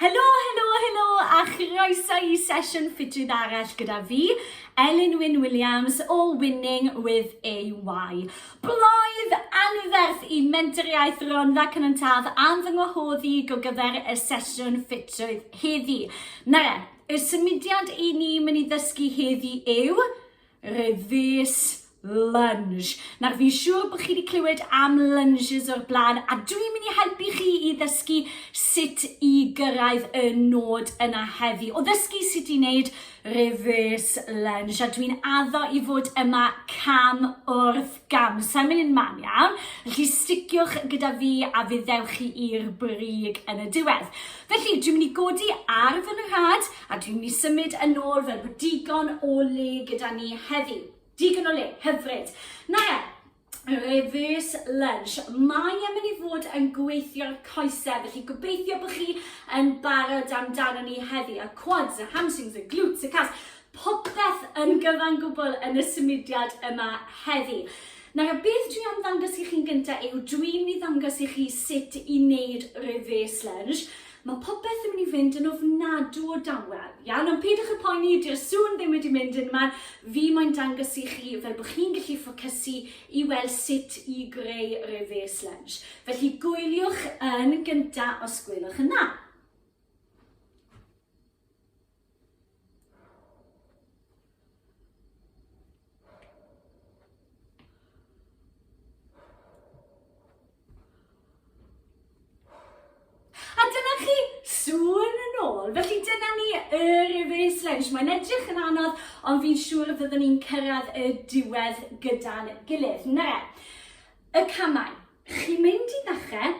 Helo, helo, helo a chroeso i sesiwn ffitrwydd arall gyda fi, Elin Wyn Williams o Winning with AY. Bloedd anferth i mentoriaeth Ronfa Cynon Taf am fy ngwahodd i go gyfer y sesiwn ffitrwydd heddi. Nara, y symudiad i ni mynd i ddysgu heddi yw Reverse lunge. Nawr, fi'n siŵr bod chi wedi clywed am lunges o'r blaen, a dwi'n mynd i helpu chi i ddysgu sut i gyrraedd y nod yna heddi. O ddysgu sut i wneud reverse lunge, a dwi'n addo i fod yma cam wrth gam. Sa'n mynd yn man iawn, felly sticiwch gyda fi a fe ddewch chi i'r brig yn y diwedd. Felly, dwi'n mynd i godi ar fy nhad, A dwi'n mynd i symud yn ôl fel bod digon o le gyda ni heddi. Digon o le, hyfryd. Na ia, reverse lunch. Mae yn mynd i fod yn gweithio'r coesau, felly gobeithio bod chi yn barod amdano ni heddi. Y quads, y hamstrings, y glutes, y calves, popeth yn gyfan gwbl yn y symudiad yma heddi. Nawr, y beth dwi am ddangos i chi'n gyntaf yw dwi'n mynd i ddangos i chi sut i wneud reverse lunge. Mae popeth yn mynd i fynd yn ofnadw o dawel, iawn, ond peidiwch â phoeni, dyw'r sŵn ddim wedi mynd yn man, fi moyn dangos i chi fel bod chi'n gallu ffocysu i weld sut i greu reverse lunge. Felly gwyliwch yn gynta' os gwelwch yn dda. Challenge. Mae'n edrych yn anodd, ond fi'n siŵr y byddwn ni'n cyrraedd y diwedd gyda'n gilydd. Na, y camau. Chi'n mynd i ddechrau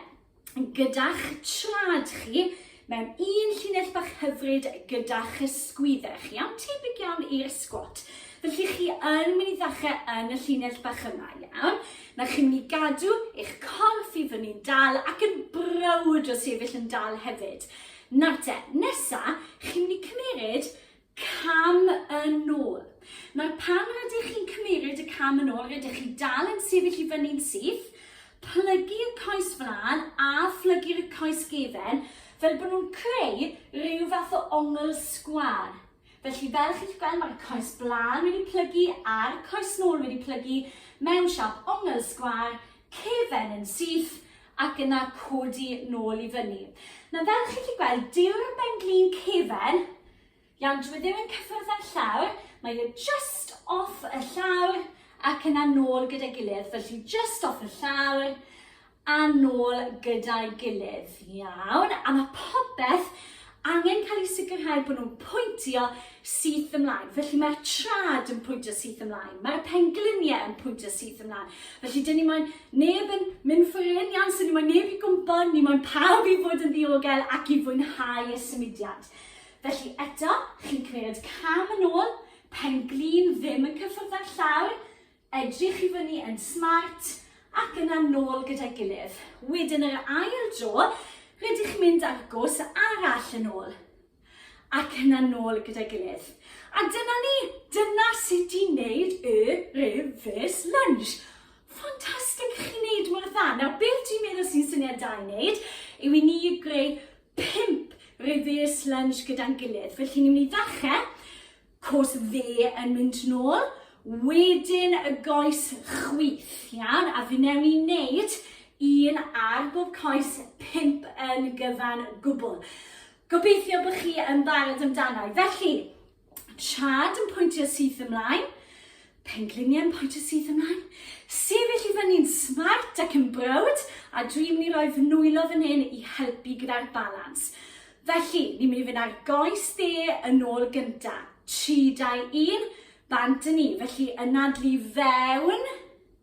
gyda'ch trad chi mewn un llinell bach hyfryd gyda'ch ysgwyddau chi, iawn? Tebyg iawn i'r sgwat. Felly chi yn mynd i ddechrau yn y llinell bach yma, iawn? Na chi'n mynd i gadw eich corff i fyny'n dal ac yn browd o sefyll yn dal hefyd. Nawr te, nesa, chi'n mynd i cymeryd Cam yn ôl. Nawr pan rydych chi'n cymeryd y cam yn ôl, rydych chi dal yn sefyll i fyny'n syth, plygu y coes flaen a phlygu'r y coes gefen fel bod nhw'n creu rhyw fath o ongl sgwar. Felly fel chi'ch gweld mae'r coes blaen wedi plygu a'r coes nôl wedi plygu mewn siap ongl sgwar cefn yn syth ac yna codi nôl i fyny. Nawr fel chi'n gallu gweld, dyw'r benglin cefn, iawn, dyw e ddim yn cyffwrdd â'r llawr, mae e just off y llawr ac yna nôl gyda gilydd, felly just off y llawr a nôl gyda'i gilydd, iawn, a mae popeth angen cael eu sicrhau bod nhw'n pwyntio syth ymlaen. Felly mae'r trad yn pwyntio syth ymlaen, mae'r pengliniau yn pwyntio syth ymlaen. Felly dyn ni moyn neb yn mynd ffwrdd yn iawn, so ni moyn neb i gwmpo, ni moyn pawb i fod yn ddiogel ac i fwynhau y symudiad. Felly eto, chi'n cymryd cam yn ôl, penglin ddim yn cyffwrdd â'r llawr, Edrych i fyny yn smart ac yna nôl gyda'i gilydd. Wedyn yr ail dro, rydych mynd ar gwrs arall yn ôl ac yna nôl gyda'i gilydd. A dyna ni, dyna sut i wneud y reverse lunge. Ffantastig, chi'n wneud mor dda. Nawr, beth dwi'n meddwl sy'n syniad da i wneud yw i ni greu pimp reverse lunge gyda'n gilydd. Felly, ni'n mynd i ddechrau Coes dde yn mynd nôl, wedyn y goes chwith, iawn, a fi newn i wneud un ar bob coes pimp yn gyfan gwbl. Gobeithio bod chi yn barod amdano. Felly, trad yn pwyntio syth ymlaen, Pengliniau'n pointio syth ymlaen, sefyll i fyny'n smart ac yn browd, a dwi'n mynd i roi fy nwylo fan hyn i helpu gyda'r balans. Felly, ni'n mynd i fynd ar goes dde yn ôl gynta. 3, 2, 1, bant yn ni. Felly, ynadlu fewn,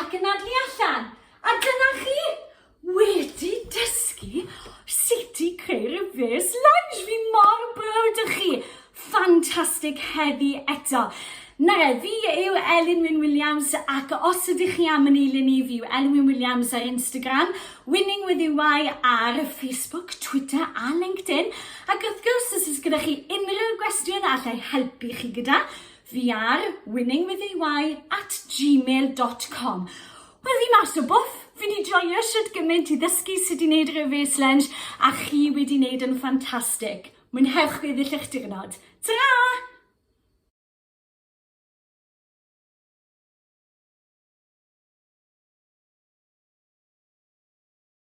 Ac yn adlu allan. A dyna chi! Wedi dysgu sut i creu reverse lunge. Fi mor brwd o chi. Ffantastig heddi eto. Na re, fi yw Elin Wyn Williams ac os ydych chi am yn eilun i fi yw Elin Wyn Williams ar Instagram, Winning With EY ar Facebook, Twitter a LinkedIn. Ac wrth gwrs, os ydych gyda chi unrhyw gwestiwn allai helpu chi gyda, Fi ar winningwithy at gmail dot com Wel fi mas o bwff! Fi di joio shwt gymaint i ddysgu sut i wneud reverse lunge a chi wedi wneud yn ffantastig. Mwynhewch gweddill eich diwrnod. Tara!